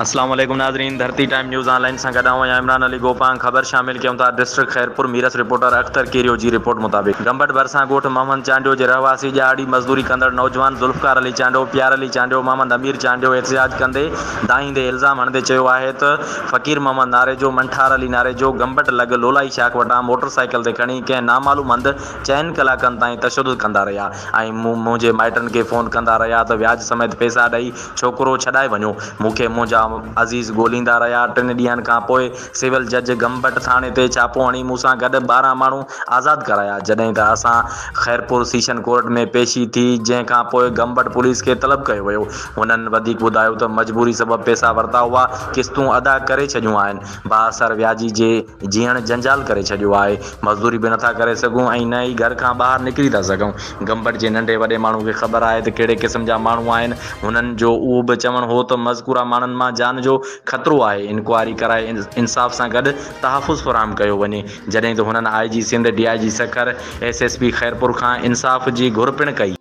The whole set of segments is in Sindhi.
اسلام عليڪم ناظرين Dharti Time News online سان گڏ آئون آهيان عمران علي گوپانگ خبر شامل ڪيون ٿا ڊسٽرڪٽ خيرپور ميرس رپورٽر اختر ڪيريو جي رپورٽ مطابق گمبٽ ڀرسان ڳوٺ محمد چانڊيو جي رهواسي ڄاڙي مزدوري ڪندڙ نوجوان ذوالفقار علي چانڊيو پيار علي چانڊيو محمد امير چانڊيو احتجاج ڪندي دانهيندي الزام هڻندي چيو آهي ته فقير محمد ناريجو، منٺار علي ناريجو، گمبٽ لڳ لولائي شاخ وٽان موٽر سائيڪل تي کڻي ڪنهن نامعلوم هنڌ چئن ڪلاڪن تائين تشدد ڪندا رهيا ۽ مون منهنجي مائٽن کي فون ڪندا رهيا ته وياج سميت پئسا ڏئي ڇوڪرو ڇڏائي وڃو. مون کي منهنجا عزيز ڳوليندا رهيا. ٽن ڏينهن کان پوء سول جج گمبٽ ٿاڻي تي ڇاپو هڻي مون سان گڏ ٻارهن ماڻهو آزاد ڪرايا جڏهن ته اسان خيرپور سيشن ڪورٽ ۾ پيشي ٿي جنهن کان پوء گمبٽ پوليس کي طلب ڪيو ويو هنن وڌيڪ ٻڌايو ته مجبوري سبب پئسا ورتا هئا، قسطون ادا ڪري ڇڏيون آهن، بااثر وياجي جي جيئڻ جنجال ڪري ڇڏيو آهي، مزدوري به نٿا ڪري سگهون ۽ نه ئي گهر کان ٻاهر نڪري ٿا سگهون، گمبٽ جي ننڍي وڏي ماڻهو کي خبر آهي ته ڪهڙي قسم جا ماڻهو آهن، هنن جو اهو به چوڻ هو ته مذڪوره ماڻهن مان جان جو خطرو آهي، انڪوائري ڪرائي انصاف سان گڏ تحفظ فراهم ڪيو وڃي، جڏهن ته هنن I G Sindh, D I G Sukkur, S S P Khairpur کان انصاف جي گهر پڻ ڪئي.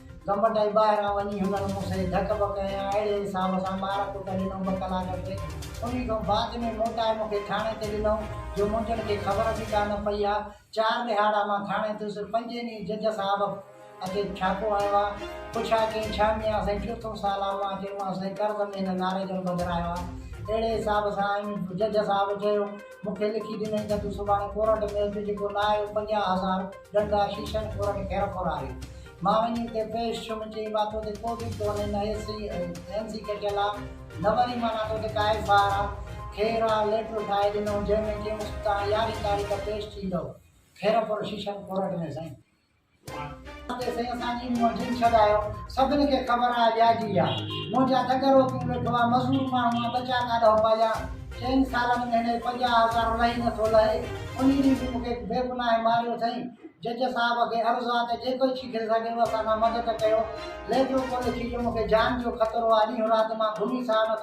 گمٽ ۽ ٻاهران وڃي هنن مون سين ڌڪ بڪ ۽ اهڙي حساب سان مار ڪٽ ڏنو ٻه ڪلاڪ کن انهي کان بعد ۾ موٽائي مون کي ٿاڻي تي ڏنئون جو منهنجن کي خبر به ڪانه پئي ها چار ڏهاڙا مان ٿاڻي ٿيس پنجين ڏينهن جج صاحب اچي ڇاپو هنيو ها پڇا ڪيائين ڇا ميان سائين چوٿون سال آ مان چيومانس سائين قرض ۾ هن ناريجن ٻڌرايو ها اهڙي حساب سان ۽ جج صاحب چيو مون کي لکي ڏنئين ته تون سڀاڻي ڪورٽ ۾ اچ جيڪو نه آيو پنجاهه هزار ڏنڊ آ شيشن کورن خيرخوراري مان وڃي اتي پيش ڇم چئي مان تو تي ڪوبه ڪو ني نه ايس سي ايم سي ڪٽيل آ نه وري مان مان تو تي ڪا ايف آر آ خير آ ليٽر ٺاهي ڏنو جنهن ۾ چيونس تان يارهين تاريخ پيش ٿيندو خيرپور شيشن ڪورٽ ۾ سائين. اتي سائين اسان جي منهن جن ڇڏايو سڀن کي خبر آ وياجي جا منهنجا دڳ روڪيون ويٺو آ مزور ماڻهو آ ٻچا ڪاڏهو پاليان چئن سالن ۾ هن جي پنجاهه هزار لهي نه ٿو لهي انهي ڏينهن به مون کي بيگناهه ماريو سائين جج صاحب کي عرض آ ته جيڪو ٿي سگهيو اسان سان مدد ڪيو ليٽر ڪو لکي جو مونکي جان جو خطرو آ ڏينهن رات مان گهمي ساهه نٿو